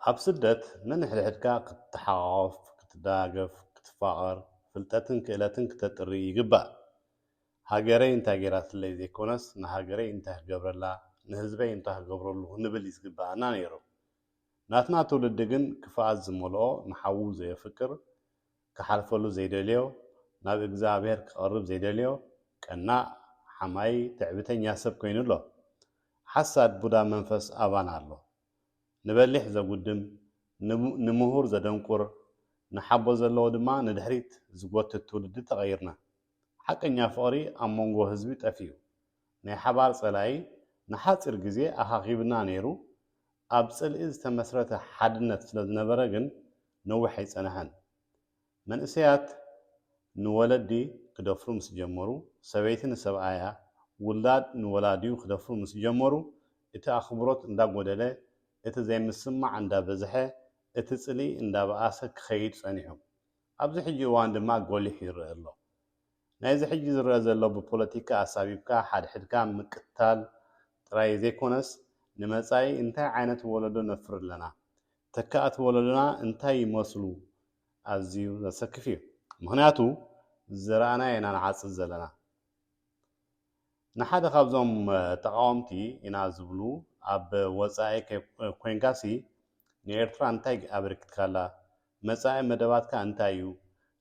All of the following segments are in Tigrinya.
ኣብ ስደት ነንሕድሕድካ ክትተሓቛቖፍ፣ ክትደጋገፍ፣ ክትፋቐር፣ ፍልጠትን ክእለትን ክተጥሪ ይግባእ። ሃገረይ እንታይ ገይራትለይ ዘይኮነስ ንሃገረይ እንታይ ክገብረላ፣ ንህዝበይ እንታይ ክገብረሉ ክንብል እዩ ዝግበኣና ነይሩ። ናትና ትውልዲ ግን ክፍኣት ዝመልኦ ንሓዉ ዘየፍቅር ክሓልፈሉ ዘይደልዮ፣ ናብ እግዝኣብሄር ክቐርብ ዘይደልዮ፣ ቀናእ፣ ሓማዪ፣ ትዕቢተኛ ሰብ ኮይኑ ኣሎ። ሓሳድ ቡዳ መንፈስ ኣባና ኣሎ። ንበሊሕ ዘጉድም፣ ንምሁር ዘደንቁር፣ ንሓቦ ዘለዎ ድማ ንድሕሪት ዝጎትት ትውልዲ ተቐይርና። ሓቀኛ ፍቕሪ ኣብ መንጎ ህዝቢ ጠፊኡ። ናይ ሓባር ጸላኢ ንሓጺር ግዜ ኣኻኺቡና ነይሩ፣ ኣብ ጽልኢ ዝተመስረተ ሓድነት ስለ ዝነበረ ግን ነዊሕ ኣይጸንሐን። መንእሰያት ንወለዲ ክደፍሩ ምስ ጀመሩ፣ ሰበይቲ ንሰብኣያ፣ ውላድ ንወላዲኡ ክደፍሩ ምስ ጀመሩ፣ እቲ ኣኽብሮት እንዳጎደለ፣ እቲ ዘይምስምማዕ እንዳበዝሐ፣ እቲ ጽልኢ እንዳበኣሰ ክኸይድ ጸኒሑ። ኣብዚ ሕጂ እዋን ድማ ጎሊሑ ይረኣ ኣሎ። ናይዚ ሕጂ ዝረኣ ዘሎ ብፖለቲካ ኣሳቢብካ ሓድሕድካ ምቅትታል ጥራይ ዘይኮነስ ንመጻኢ እንታይ ዓይነት ወለዶ ነፍሪ ኣለና ተካእቲ ወለዶና እንታይ ይመስሉ ኣዝዩ ዘሰክፍ እዩ ምኽንያቱ ዝዘራእናዮ ኢና ንዓጽድ ዘለና ንሓደ ካብዞም ተቓወምቲ ኢና ዝብሉ ኣብ ወጻኢ ኮይንካሲ ንኤርትራ እንታይ ኣበርኪትካላ? መጻኢ መደባትካ እንታይ እዩ?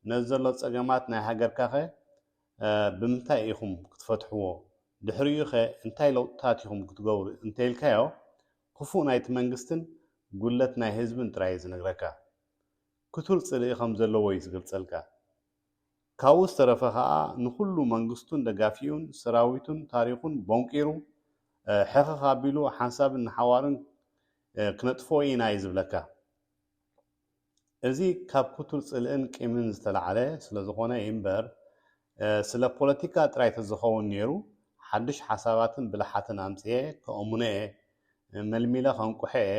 ነዚ ዘሎ ጸገማት ናይ ሃገርካኸ ብምንታይ ኢኹም ክትፈትሕዎ? ድሕሪኡኸ እንታይ ለውጥታት ኢኹም ክትገብሩ እንተኢልካዮ ክፉእ ናይቲ መንግስትን ጉድለት ናይ ህዝብን ጥራይ እዩ ዝነግረካ። ክቱር ጽልኢ ከም ዘለዎ እዩ ዝገልጸልካ። ካብኡ ዝተረፈ ከኣ ንኹሉ መንግስቱን ደጋፊኡን ሰራዊቱን ታሪኹን ቦንቂሩ ሕኽኽ ኣቢሉ ሓንሳብን ንሓዋሩን ክነጥፍኦ ኢና ኢዩ ዝብለካ። እዚ ካብ ክቱር ጽልእን ቂምን ዝተላዕለ ስለዝኾነ ኢምበር ስለ ፖለቲካ ጥራይ ተዝኸውን ኔሩ ሓዱሽ ሓሳባትን ብልሓትን ኣምጺኤ ከእሙኖ ኢየ መልሚለ ከንቁሖ ኢየ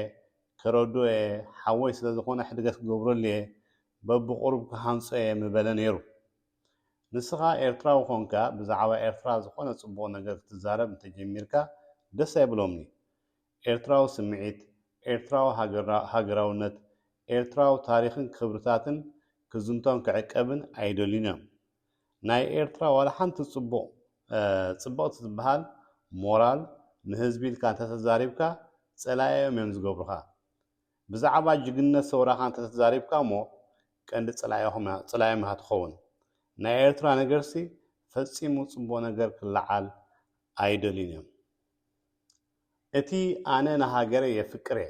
ከረድኦ ኢየ ሓወይ ስለዝኾነ ሕድገት ክገብረሉ ኢየ በብቑሩብ ክሃንጾ እየ ምበለ ነይሩ። ንስኻ ኤርትራዊ ኮንካ ብዛዕባ ኤርትራ ዝኾነ ጽቡቕ ነገር ክትዛረብ እንተጀሚርካ ደስ ኣይብሎምን'ዩ። ኤርትራዊ ስምዒት፣ ኤርትራዊ ሃገራውነት፣ ኤርትራዊ ታሪኽን ክብርታትን ክዝንቶን ክዕቀብን ኣይደልዩን'ዮም። ናይ ኤርትራ ዋላ ሓንቲ ጽቡቕ ጽብቕቲ ትበሃል ሞራል ንህዝቢ ኢልካ እንተተዛሪብካ ጸላኢኦም እዮም ዝገብሩኻ። ብዛዕባ ጅግንነት ሰውራኻ እንተተዛሪብካ እሞ ቀንዲ ጸላኢኦም ኢኻ ትኸውን። ናይ ኤርትራ ነገርሲ ፈጺሙ ጽቡቕ ነገር ክለዓል ኣይደልዩን እዮም። እቲ ኣነ ንሃገረይ የፍቅር እየ፣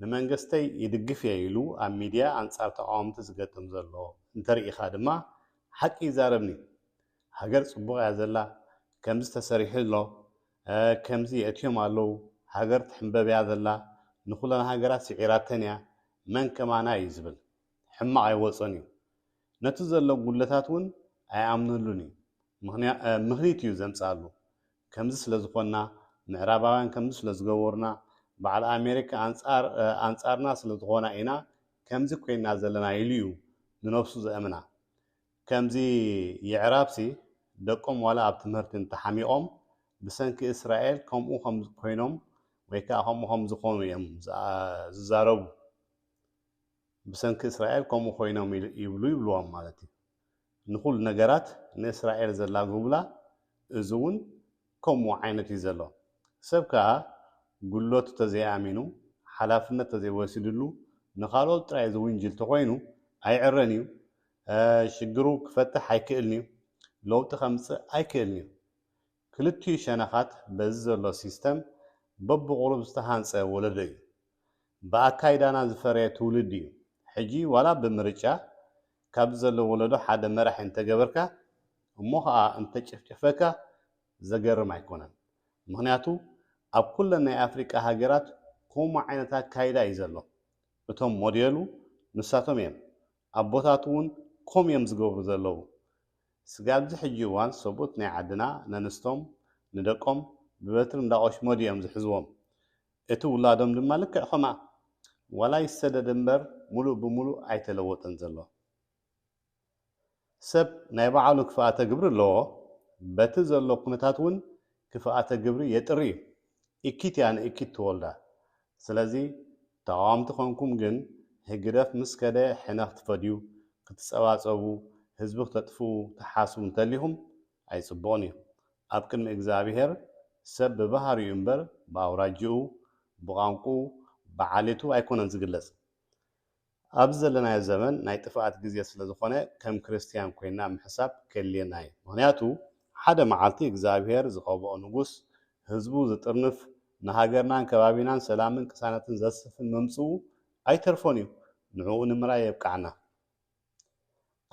ንመንግስተይ ይድግፍ እየ ኢሉ ኣብ ሚድያ ኣንጻር ተቓወምቲ ዝገጥም ዘሎ እንተርኢኻ ድማ ሓቂ ይዛረብኒ። ሃገር ጽቡቕ እያ ዘላ፣ ከምዚ ተሰሪሑ ኣሎ፣ ከምዚ የእትዮም ኣለው ሃገር ትሕምበብ እያ ዘላ ንኩለን ሃገራት ስዒራተን እያ መን ከማና እዩ ዝብል ሕማቅ ኣይወፆን እዩ ነቲ ዘሎ ጉድለታት እውን ኣይኣምነሉን እዩ ምክኒት እዩ ዘምፀኣሉ ከምዚ ስለዝኮና ምዕራባውያን ከምዚ ስለዝገበሩና በዓል ኣሜሪካ ኣንፃርና ስለዝኮና ኢና ከምዚ ኮይና ዘለና ኢሉ እዩ ንነብሱ ዘእምና ከምዚ የዕራብሲ ደቆም ዋላ ኣብ ትምህርቲ እንተሓሚቖም ብሰንኪ እስራኤል ከምኡ ከምኮይኖም ወይ ከኣ ከምኡ ከምዝኾኑ እዮም ዝዛረቡ። ብሰንኪ እስራኤል ከምኡ ኮይኖም ይብሉ ይብልዎም ማለት እዩ። ንኹሉ ነገራት ንእስራኤል ዘላግቡላ እዚ እውን ከምኡ ዓይነት እዩ ዘሎ። ሰብ ከኣ ጉድለቱ ተዘይኣሚኑ ሓላፍነት ተዘይወሲድሉ ንካልኦት ጥራይ ዝውንጅል ተኾይኑ ኣይዕረን እዩ፣ ሽግሩ ክፈትሕ ኣይክእልን እዩ፣ ለውጢ ከምጽእ ኣይክእልን እዩ። ክልቲኡ ሸነኻት በዚ ዘሎ ሲስተም በብቑሩብ ዝተሃንጸ ወለዶ እዩ። ብኣካይዳና ዝፈረየ ትውልዲ እዩ። ሕጂ ዋላ ብምርጫ ካብዚ ዘሎ ወለዶ ሓደ መራሒ እንተገበርካ፣ እሞ ከኣ እንተጨፍጨፈካ ዘገርም ኣይኮነን ምክንያቱ ኣብ ኩለን ናይ ኣፍሪቃ ሃገራት ኮሙ ዓይነት ኣካይዳ እዩ ዘሎ እቶም ሞዴሉ ንሳቶም እዮም ኣቦታቱ ውን ኮም እዮም ዝገብሩ ዘለዉ ስጋብዚ ሕጂ እዋን ሰቡት ናይ ዓድና ነንስቶም ንደቆም ብበትሪ እንዳቆሽመዱ እዮም ዝሕዝዎም እቲ ውላዶም ድማ ልክዕ ከምኣ ዋላ ይሰደድ እምበር ሙሉእ ብሙሉእ ኣይተለወጠን ዘሎ። ሰብ ናይ ባዓሉ ክፍኣተ ግብሪ ኣለዎ በቲ ዘሎ ኩነታት ውን ክፍኣተ ግብሪ የጥሪ እዩ እኪት እያ ንእኪት ትወልዳ ስለዚ ተቃወምቲ ኮንኩም ግን ህግደፍ ምስ ከደ ሕነ ክትፈድዩ ክትጸባጸቡ ህዝቢ ክተጥፍኡ ትሓስቡ እንተሊኹም ኣይጽቡቅን እዩ ኣብ ቅድሚ እግዝኣብሄር ሰብ ብባህሪኡ እምበር ብኣውራጅኡ ብቋንቁኡ ብዓሌቱ ኣይኮነን ዝግለጽ ኣብዚ ዘለናዮ ዘመን ናይ ጥፍኣት ግዜ ስለ ዝኾነ ከም ክርስትያን ኮይና ምሕሳብ ከድልየና እዩ ምኽንያቱ ሓደ መዓልቲ እግዝኣብሄር ዝቀብኦ ንጉስ ህዝቡ ዝጥርንፍ ንሃገርናን ከባቢናን ሰላምን ቅሳነትን ዘስፍን ምምጽኡ ኣይተርፎን እዩ ንዕኡ ንምርኣይ የብቅዓና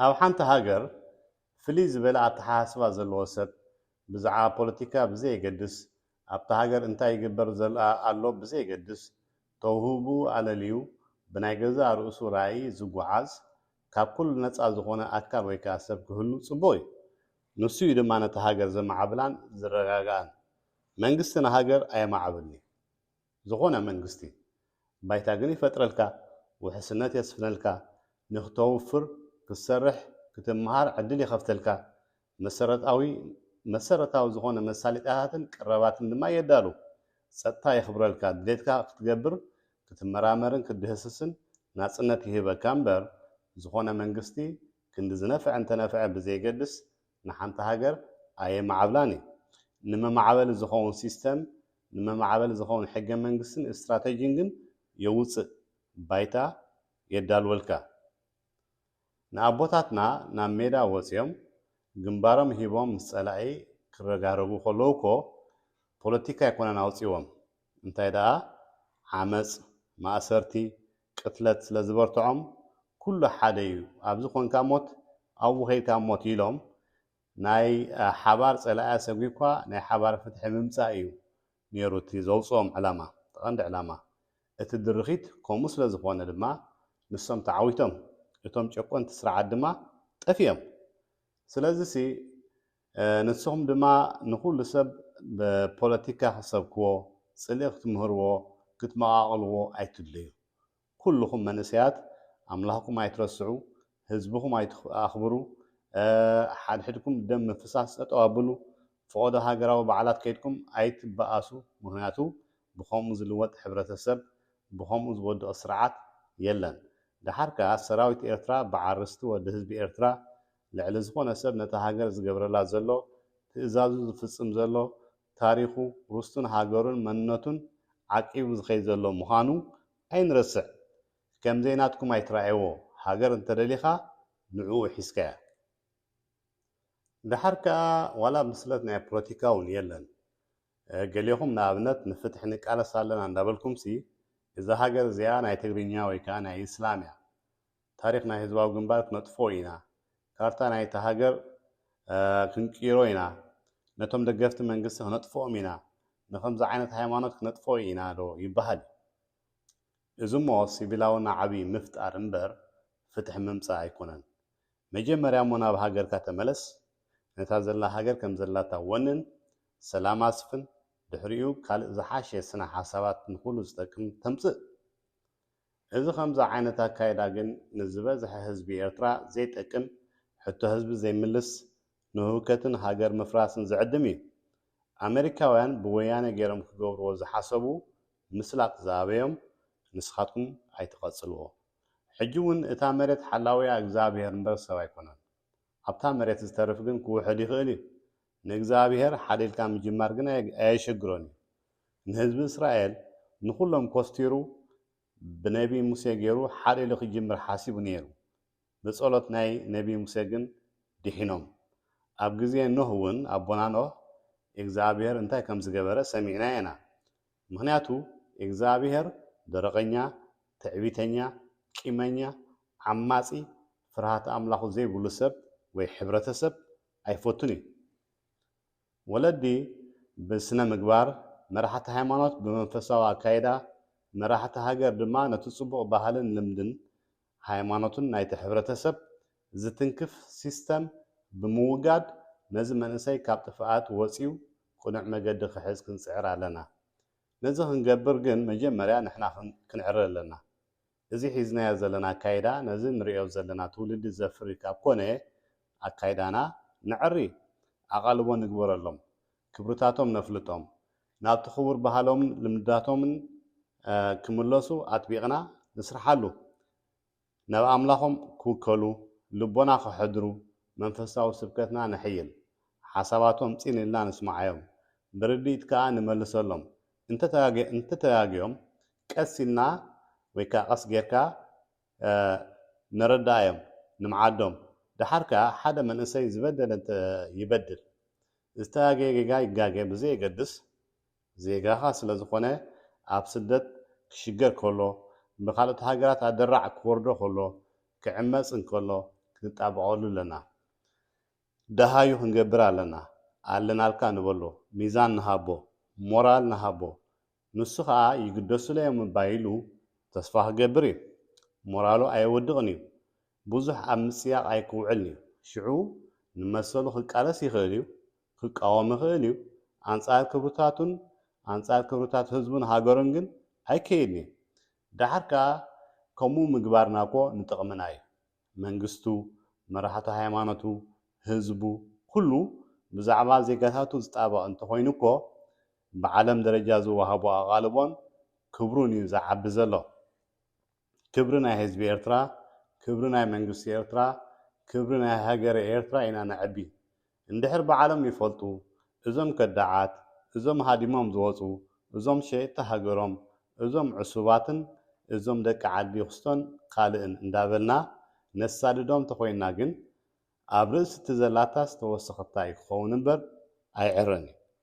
ኣብ ሓንቲ ሃገር ፍልይ ዝበለ ኣተሓሳስባ ዘለዎ ሰብ ብዛዕባ ፖለቲካ ብዘየገድስ ኣብታ ሃገር እንታይ ይግበር ኣሎ ብዘየገድስ ተውህብኡ ኣለልዩ ብናይ ገዛእ ርእሱ ራእይ ዝጉዓዝ ካብ ኩሉ ነጻ ዝኾነ ኣካል ወይ ከኣ ሰብ ክህሉ ጽቡቕ እዩ። ንሱ እዩ ድማ ነታ ሃገር ዘማዕብላን ዝረጋግኣን። መንግስቲ ንሃገር ኣየማዕብልን እዩ። ዝኾነ መንግስቲ። ባይታ ግን ይፈጥረልካ፣ ውሕስነት የስፍነልካ፣ ንክተውፍር፣ ክትሰርሕ፣ ክትመሃር ዕድል ይኸፍተልካ፣ መሰረታዊ መሰረታዊ ዝኾነ መሳሊጣታትን ቅረባትን ድማ የዳሉ። ጸጥታ የኽብረልካ፣ ድሌትካ ክትገብር፣ ክትመራመርን ክትድህስስን ናጽነት ይህበካ እምበር፣ ዝኾነ መንግስቲ ክንዲ ዝነፍዐ እንተነፍዐ ብዘየገድስ ንሓንቲ ሃገር ኣየማዓብላን እዩ። ንመማዕበሊ ዝኸውን ሲስተም፣ ንመማዕበሊ ዝኸውን ሕገ መንግስትን እስትራተጂን ግን የውጽእ፣ ባይታ የዳልወልካ። ንኣቦታትና ናብ ሜዳ ወጺኦም ግንባሮም ሂቦም ምስ ጸላኢ ክረጋረጉ ከለዉ እኮ ፖለቲካ ኣይኮነን ኣውጺዎም እንታይ ደኣ ዓመጽ ማእሰርቲ ቅትለት ስለ ዝበርትዖም ኩሉ ሓደ እዩ ኣብዚ ኮንካ ሞት ኣብኡ ከይድካ ሞት ኢሎም ናይ ሓባር ጸላኢ ኣሰጒግኳ ናይ ሓባር ፍትሒ ምምጻእ እዩ ኔሩ እቲ ዘውጽኦም ዕላማ እቲ ቀንዲ ዕላማ እቲ ድርኺት ከምኡ ስለ ዝኾነ ድማ ንሶም ተዓዊቶም እቶም ጨቆንቲ ስርዓት ድማ ጠፊኦም። ስለዚሲ ንስኹም ድማ ንኹሉ ሰብ ብፖለቲካ ክትሰብክዎ፣ ጽልኢ ክትምህርዎ፣ ክትመቓቕልዎ ኣይትድለዩ። ኩሉኹም መንእሰያት ኣምላኽኩም ኣይትረስዑ፣ ህዝብኹም ኣይትኣኽብሩ፣ ሓድሕድኩም ደም ምፍሳስ ጠጠው ኣብሉ፣ ፈቐዶ ሃገራዊ በዓላት ከይድኩም ኣይትበኣሱ፣ ምኽንያቱ ብኸምኡ ዝልወጥ ሕብረተሰብ ብኸምኡ ዝወድቕ ስርዓት የለን። ደሓር ከኣ ሰራዊት ኤርትራ በዓል ርስቲ ወዲ ህዝቢ ኤርትራ ልዕሊ ዝኾነ ሰብ ነታ ሃገር ዝገብረላ ዘሎ ትእዛዙ ዝፍጽም ዘሎ ታሪኹ ርስቱን ሃገሩን መንነቱን ዓቂቡ ዝኸይድ ዘሎ ምዃኑ ኣይንረስዕ። ከምዘይ ናትኩም ኣይትርኣይዎ ሃገር እንተደሊኻ ንዕኡ ሒዝካያ ደሓር ከኣ ዋላ ብስለት ናይ ፕሎቲካ ውን የለን ገሌኹም ንኣብነት ንፍትሒ ንቃለስ ኣለና እንዳበልኩምሲ እዛ ሃገር እዚኣ ናይ ትግርኛ ወይ ከኣ ናይ እስላም እያ ታሪኽ ናይ ህዝባዊ ግንባር ክነጥፍኦ ኢና ካርታ ናይታ ሃገር ክንቅይሮ ኢና ነቶም ደገፍቲ መንግስቲ ክነጥፍኦም ኢና ንከምዚ ዓይነት ሃይማኖት ክነጥፍኦ ኢና ዶ ይበሃል እዩ እዚሞ ሲቪላዊ ናዕቢ ምፍጣር እምበር ፍትሒ ምምጻእ ኣይኮነን። መጀመርያሞ ናብ ሃገርካ ተመለስ፣ ነታ ዘላ ሃገር ከም ዘላታ ወንን፣ ሰላም ኣስፍን፣ ድሕሪኡ ካልእ ዝሓሸ ስነ ሓሳባት ንኹሉ ዝጠቅም ተምጽእ። እዚ ከምዚ ዓይነት ኣካይዳ ግን ንዝበዝሐ ህዝቢ ኤርትራ ዘይጠቅም፣ ሕቶ ህዝቢ ዘይምልስ፣ ንህውከትን ሃገር ምፍራስን ዝዕድም እዩ። ኣመሪካውያን ብወያነ ጌሮም ክገብርዎ ዝሓሰቡ ምስላጥ ዝኣበዮም ንስኻትኩም ኣይትቀጽልዎ ሕጂ ውን እታ መሬት ሓላዊኣ እግዝኣብሄር እምበር ሰብ ኣይኮነን ኣብታ መሬት ዝተርፍ ግን ክውሕድ ይኽእል እዩ ንእግዝኣብሄር ሓደ ኢልካ ምጅማር ግን ኣየሸግሮን እዩ ንህዝቢ እስራኤል ንኹሎም ኮስቲሩ ብነቢ ሙሴ ገሩ ሓሊሉ ክጅምር ሓሲቡ ነይሩ ብጸሎት ናይ ነቢ ሙሴ ግን ዲሒኖም ኣብ ግዜ ኖህ ውን ኣቦና ኖህ ኢግዝኣብሄር እንታይ ከም ዝገበረ ሰሚዕና ኢና ምክንያቱ ኢግዝኣብሄር ደረቀኛ ትዕቢተኛ ቂመኛ ዓማጺ ፍርሃተ ኣምላኩ ዘይብሉ ሰብ ወይ ሕብረተሰብ ኣይፈቱን ኢዩ ወለዲ ብስነ ምግባር፣ መራሕቲ ሃይማኖት ብመንፈሳዊ ኣካይዳ፣ መራሕቲ ሃገር ድማ ነቲ ጽቡቕ ባህልን ልምድን ሃይማኖትን ናይቲ ሕብረተሰብ ዝትንክፍ ሲስተም ብምውጋድ ነዚ መንእሰይ ካብ ጥፍኣት ወጽዩ ቅኑዕ መገዲ ክሕዝ ክንጽዕር ኣለና። ነዚ ክንገብር ግን መጀመርያ ንሕና ክንዕረ ኣለና። እዚ ሒዝናዮ ዘለና ኣካይዳ ነዚ ንርእዮ ዘለና ትውልዲ ዘፍሪ ካብ ኮነ ኣካይዳና ነዕሪ፣ ኣቓልቦ ንግበረሎም፣ ክብርታቶም ነፍልጦም፣ ናብቲ ክቡር ባህሎምን ልምድታቶምን ክምለሱ ኣጥቢቕና ንስርሓሉ፣ ናብ ኣምላኾም ክውከሉ ልቦና ከሕድሩ መንፈሳዊ ስብከትና ነሕይል፣ ሓሳባቶም ጽን ኢልና ንስምዓዮም፣ ብርድኢት ከኣ ንመልሰሎም፣ እንተተጋግዮም ቀስ ኢልና ወይ ከኣ ቀስ ጌርካ ነረድኣዮም ንምዓዶም ደሓር ከኣ ሓደ መንእሰይ ዝበደለ እንተ ይበድል ዝተጋገየ ጌጋ ይጋገ ብዘየገድስ ዜጋኻ ስለ ዝኾነ ኣብ ስደት ክሽገር ከሎ ብኻልኦት ሃገራት ኣደራዕ ክወርዶ ከሎ ክዕመጽ እንከሎ ክንጣበቐሉ ኣለና ደሃዩ ክንገብር ኣለና ኣለናልካ ንበሎ ሚዛን ንሃቦ ሞራል ንሃቦ ንሱ ከኣ ይግደሱለይ እዮም እባ ኢሉ ተስፋ ክገብር እዩ ሞራሉ ኣየወድቅን እዩ ብዙሕ ኣብ ምጽያቅ ኣይክውዕልን እዩ ሽዑ ንመሰሉ ክቃለስ ይክእል እዩ ክቃወም ይክእል እዩ ኣንጻር ክብርታቱን ኣንጻር ክብርታት ህዝቡን ሃገሩን ግን ኣይከይድን እዩ ደሓር ከኣ ከምኡ ምግባርና እኮ ንጥቅምና እዩ መንግስቱ፣ መራሕቲ ሃይማኖቱ፣ ህዝቡ ኩሉ ብዛዕባ ዜጋታቱ ዝጣበቕ እንተኾይኑ እኮ ብዓለም ደረጃ ዝወሃቦ ኣቓልቦን ክብሩን እዩ ዝዓቢ ዘሎ። ክብሪ ናይ ህዝቢ ኤርትራ፣ ክብሪ ናይ መንግስቲ ኤርትራ፣ ክብሪ ናይ ሃገረ ኤርትራ ኢና ነዕቢ። እንድሕር ባዓሎም ይፈልጡ እዞም ከዳዓት እዞም ሃዲሞም ዝወጹ እዞም ሸየጥቲ ሃገሮም እዞም ዑሱባትን እዞም ደቂ ዓዲ ኩስቶን ካልእን እንዳበልና ነሳድዶም ተኾይንና ግን ኣብ ርእሲ እቲ ዘላታስ ተወሰኽታ እዩ ክኸውን እምበር ኣይዕረን እዩ።